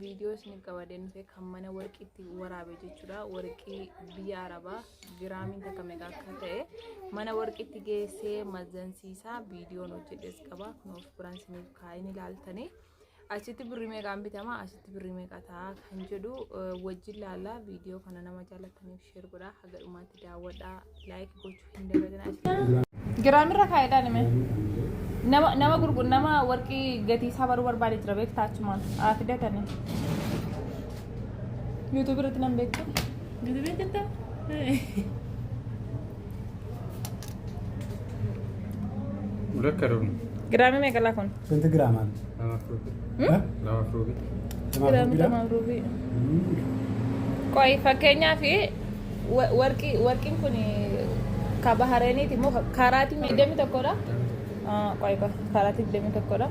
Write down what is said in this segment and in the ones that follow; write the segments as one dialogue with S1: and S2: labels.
S1: viidiyoo isiniif qabadee nufe kan mana warqiitti waraabe jechuudha warqii biyya arabaa giraamiin takka meeqa akka ta'e mana warqiitti geessee mazansiisaa viidiyoon hojjedhes qaba kun of biraan isiniif kaa'in ilaaltanii asitti birrii meeqaan bitama asitti birrii meeqa ta'a kan jedhu wajjin laallaa viidiyoo kana nama jaalataniif sheer godhaa haga dhumaatti daawwadhaa laayik gochuu Giraamirra kaa'edhaa nime. Nama nama gurgu nama warqii gatii isaa baruu barbaade jira beektaa achumaan haa fidatani. Yuutuubii irratti nan beekta. Gudubee jirta?
S2: Rakka dhufu. Giraamii meeqalaa kun?
S1: Senti giraamaan.
S2: Namaaf ruubii. Hmm? Namaaf ruubii. Giraama
S1: lamaaf ruubii. Qoy fakkeenyaaf warqii warqiin kun ka bahareeniiti immoo kaaraatii miidhamni tokkodha. Qoy qoy kaaraatii miidhamni tokkodha.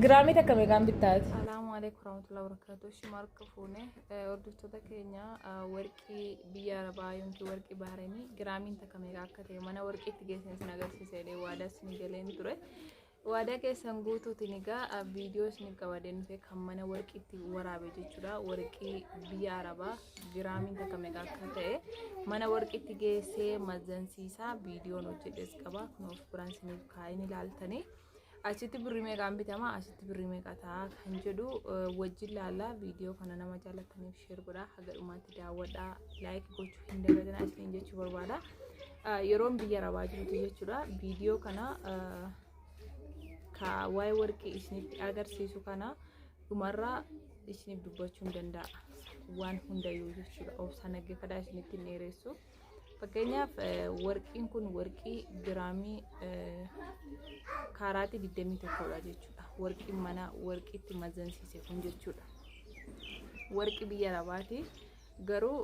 S1: Giraamii takka meeqaan bittaati? Salaamu alaikum warahmatullahi wabarakatuh. Shimarka fuune hordoftoota keenya warqii biyya arabaa yookiin warqii bahareenii giraamiin takka meeqa akka ta'e mana warqiitti geessinee sin agarsiisee waadaa sin galeen ture. Waadaa keessan guutuutiin egaa viidiyoo isin qabaadee nufe kan mana warqiitti waraabe jechuudha. Warqii biyya Arabaa giraamiin takka meeqa akka ta'e mana warqiitti geessee mazansiisaa viidiyoon hojjedhes qaba. Kun of biraan isiniif kaa'in ilaaltanii. Achitti birrii meeqaan bitama asitti birrii meeqa ta'a kan jedhu wajjin laallaa viidiyoo kana nama jaalataniif sheer godhaa haga dhumaatti daawwadhaa laayik gochuu hin dagatinaa isiniin jechuu barbaada. yeroon biyya arabaa jirutu jechuudha viidiyoo kana ka waa'ee warqii isinitti agarsiisu kana dhumarraa isiniif dubbachuun danda'a waan hundayyuu jechuudha obsa naggeeffadhaa isinitti hin dheeressu fakkeenyaaf warqiin kun warqii giraamii kaaraatii 21dha jechuudha warqiin mana warqiitti mazansiise kun jechuudha warqii biyya arabaati garuu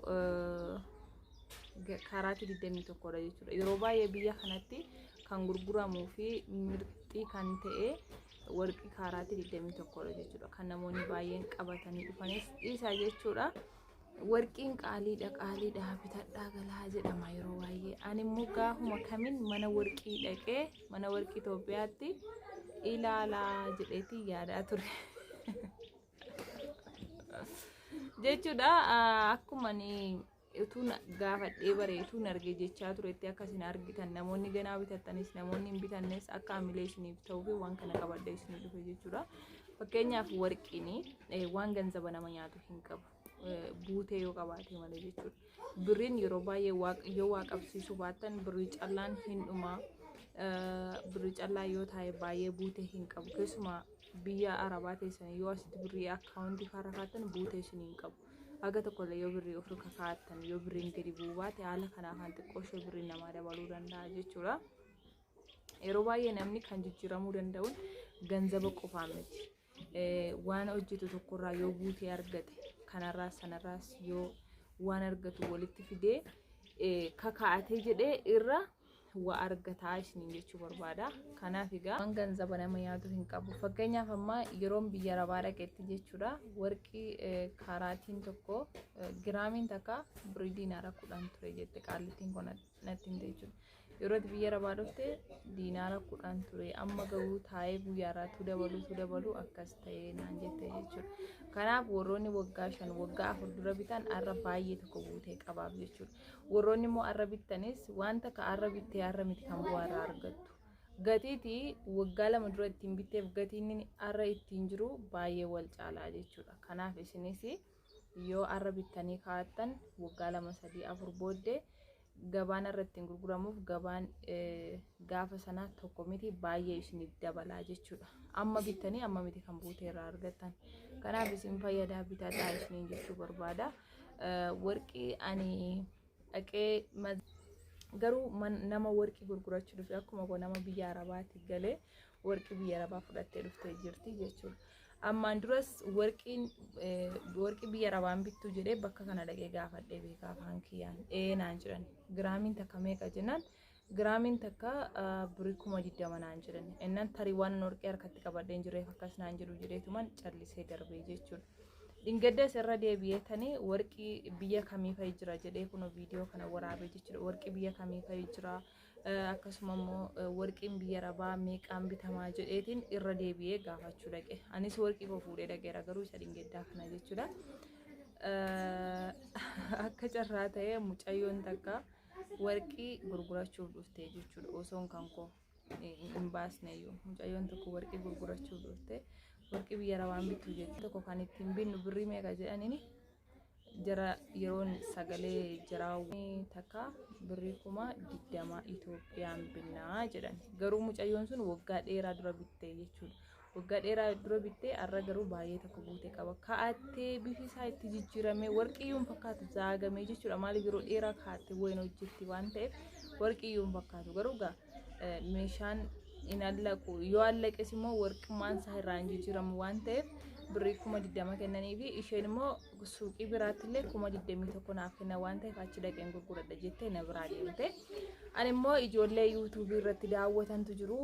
S1: kaaraatii 21 dha jechuudha. Yeroo baay'ee biyya kanatti kan gurguramuu fi mirxii kan ta'e warqii kaaraatii 21 dha jechuudha. Kan namoonni baay'een qabatanii dhufanis dhiisa jechuudha. Warqiin qaaliidha qaaliidha bitadhaa galaa jedhama yeroo baay'ee. Ani immoo gaafuma kamiin mana warqii dhaqee mana warqii Itoophiyaatti ilaalaa jedheeti yaadaa ture. jechuudha akkuma utuu na- gaafadhee baree utuu na argee jechaa turetti akka isin argitan namoonni ganaa bitattanis namoonni hin bitannes akka hamilee isiniif ta'uu fi waan kana qabadhee isinii dhufe jechuudha. Fakkeenyaaf warqiin eh, waan ganzaba nama nyaatu hin qabu. Eh, Buutee yoo qabaate malee jechuudha. Birriin yeroo baay'ee waaq- yoo waa qabsiisuu baattan birrii callaan hin dhumaa. Eh, Birrii callaa yoo taa'e baay'ee buutee hin qabu. Keessumaa biyya arabaa teessanii yoo asitti birrii akkaawuntii faarrafaattan buutee isin hin qabu. Haga tokkollee yoo birrii ofirra kakaa'attan yoo birriin gadi bu'uu baate haala kanaa kan xiqqoo ishee birriin namaa dabaluu danda'a jechuudha. Yeroo baay'ee namni kan jijjiiramuu danda'uun ganzaba qofaa miti. Eh, Waan hojjetu tokkorraa yoo buutee argate kanarraas sanarraas yoo waan argatu walitti fidee eh, kakaa'atee jedhee irra wa argataa isiniin jechuu barbaada. Kanaaf egaa waan ganzaba nama yaadu hin qabu. Fakkeenyaaf amma yeroon biyya rabaa dhaqetti jechuudha warqii kaaraatiin tokko giraamiin takka birii diinaara kudhan ture jette qaallittiin kun natti himte jechuudha. Yeroo biyya rabaa dhufte diinaara kudhan ture amma garuu taa'ee guyyaarraa tu dabaluu tu dabaluu akkas ta'ee naan jette jechuudha. Kanaaf warroonni waggaa shan waggaa afur dura bitan har'a baay'ee tokko guutee qabaaf jechuudha. Warroonni immoo arra bittanis wanta ka arra bittee arra miti kan bu'aa irraa argattu. Gatiiti waggaa lama dura ittiin bitteef gatiin inni arra ittiin jiru baay'ee wal caalaa jechuudha. Kanaaf isinis yoo arra bittanii kaa'attan waggaa lama sadii afur booddee gabaan irra ittiin gurguramuuf gabaan eh, gaafa sanaa tokko miti baay'ee isiniif dabalaa jechuudha. Amma bittanii amma miti kan buutee irraa argattan. Kanaaf isin fayyadaa bitadhaa isiniin jechuu barbaada. warqii ani dhaqee garuu nama warqii gurgurachuu dhufe akkuma koo nama biyya arabaati galee warqii biyya arabaa fudhattee dhuftee jirti jechuudha. Ammaan duras warqiin warqii biyya arabaan bittuu jedhee bakka kana dhaqee gaafadhee beekaa afaan kiyyaan ee naan jedhan giraamiin takka meeqa jennaan Giraamiin takka birrii kuma digdama naan jedhan. Innan tarii waan hin horqee harkatti qabadhee hin jirreef akkas naan jedhu jedheetuman callisee darbee jechuudha. Dhingaddas irra deebi'ee tanii warqii biyya kamii fa'i jira jedhee kun viidiyoo kana waraabee jechuudha. Warqii biyya kamii fa'i jira akkasuma immoo warqiin biyya rabaa meeqaan bitamaa jedheetiin irra deebi'ee gaafachuu dhaqe. Anis warqii koo fuudhee dhaqeera garuu isa dhingaddaa kana jechuudha. Akka carraa ta'ee mucayyoon takka. warqii gurgurachuuf dhufte jechuudha osoon kan koo hin baasneyyuu mucayyoon tokko warqii gurgurachuuf dhufte warqii biyyara waan bittu jette tokko kan ittiin binnu birrii meeqa jedhanini jara yeroon sagalee jiraa takka birrii kuma digdama Itoophiyaan binnaa jedhan garuu mucayyoon sun waggaa dheeraa dura bitte jechuudha Waggaa dheeraa dura bittee har'a garuu baay'ee tokko guute qaba. Kaa'attee bifi isaa itti jijjiiramee warqiyyuun fakkaatu zaagamee jechuudha. Maaliif yeroo dheeraa kaa'attee wayiin hojjetti waan ta'eef warqiyyuun fakkaatu. Garuu egaa eh, meeshaan hin allaqu. Yoo allaqes immoo warqummaan isaa irraa hin jijjiiramu waan ta'eef birrii kuma digdama kennanii fi isheen immoo suuqii biraatti illee kuma 21 naaf kenna waan ta'eef achi dhaqeen gurguradha jettee na biraa deemte. Ani immoo ijoollee yuutuubii irratti daawwatantu jiru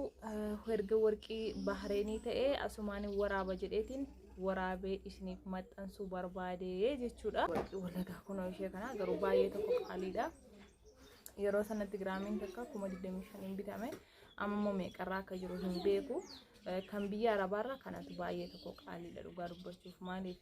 S1: erga warqii bahreenii ta'ee asumaan waraaba jedheetiin waraabee isiniif maxxansuu barbaade jechuudha. Warqii walagaa kunoo ishee kana garuu baay'ee tokko qaaliidha. Yeroo sanatti giraamiin takka kuma 25 hin bitame amma immoo meeqarraa akka jiru hin beeku. kan biyya arabaarra kanatu baay'ee tokko qaaliidha dhugaa dubbachuuf maaliif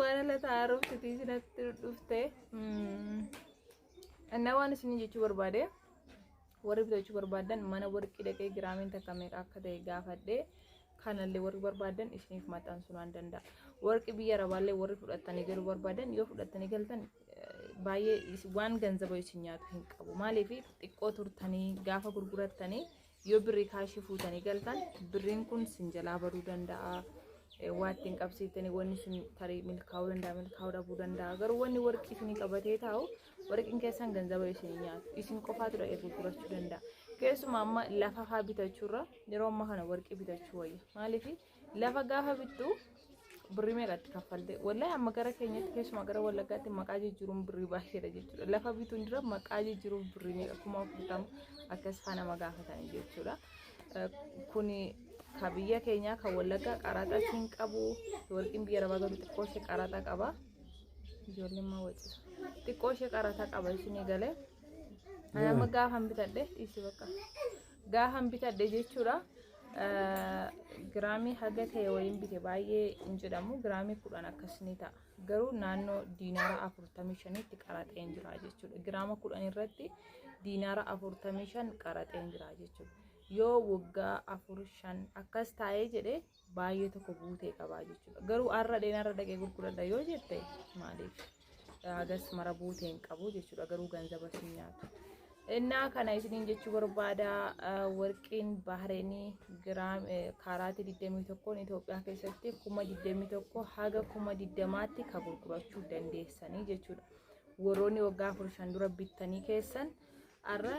S1: Waan laata haaromsitii sinatti dhufte. Annaa waan isin jechuu barbaade warri bitachuu barbaadan mana warqii dhaqee giraamiin takka meeqa akka ta'e gaafadhe kanallee warri barbaadan isiniif maxxansuu nan danda'a. Warqii biyya arabaallee warri fudhattanii galuu barbaadan yoo fudhattanii galtan baay'ee waan ganzaba isin nyaatu hin qabu. Maaliif xiqqoo turtanii gaafa gurgurattanii yoo birrii kaashii fuutanii galtan birriin kun sin jalaa baduu danda'a waa ittiin qabsiiftanii wanni sun tarii milkaa'uu danda'a milkaa'uu dhabuu danda'a garuu wanni warqii isinii qabatee taa'u warqiin keessan ganzaba isin nyaatu isin qofaatu dhaqee gurgurachuu danda'a keessumaa amma lafa faa bitachuurra yeroo amma kana warqii bitachuu wayya maaliif Lafa gaafa bittu birrii meeqatti kaffalte? Wallahi amma gara keenyatti keessumaa gara Wallaggaatti maqaa jijjiiruun birrii baay'eedha jechuudha. Lafa bituun dura maqaa jijjiiruun birrii meeqa kuma afurtama akkas faa nama gaafatanii jechuudha. Eh, Kuni ka biyya keenyaa kan Wallaggaa qaraaxaa siin qabu warqiin biyya arabaa garuu xiqqoo ishee qaraaxaa qaba. Ijoolleen maa wacisa. Xiqqoo ishee qaraaxaa qaba isheen eegalee. Nama gaafan bitadhe dhiisi bakka. Gaahan bitadhe jechuudha. Giraamii haga ta'e waliin bite baay'ee hin jedhamu. Giraamii kudhan akkas ni ta'a. Garuu naannoo diinaara afurtamii shanitti qaraxeen jira jechuudha. Giraama kudhan irratti diinaara afurtamii shan qaraxeen jira jechuudha. Yoo waggaa afur shan akkas taa'ee jedhee baay'ee tokko guutee qabaa jechuudha. Garuu har'a dheen har'a dhaqee gurguradha yoo jette maaliif hagas mara buutee hin qabu jechuudha. Garuu ganzaba siin nyaata. Innaa kana isiniin jechuu barbaada warqiin bahareenii giraam kaaraatii 21 Itoophiyaa keessatti kuma 21 haga kuma 20tti ka gurgurachuu dandeessanii jechuudha. Warroonni waggaa 15 dura bittanii keessan Har'a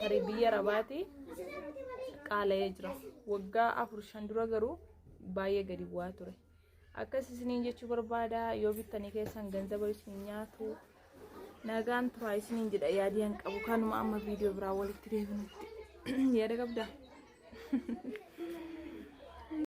S1: tarii biyya Arabaati qaala'ee jira. Waggaa afur shan dura garuu baay'ee gadi bu'aa ture. Akkas isiniin jechuu barbaada yoo bittanii keessan ganzaba isin nyaatu nagaan turaa isiniin jedha yaadii hin qabu kanuma amma viidiyoo biraa walitti deebinutti yaada qabdaa?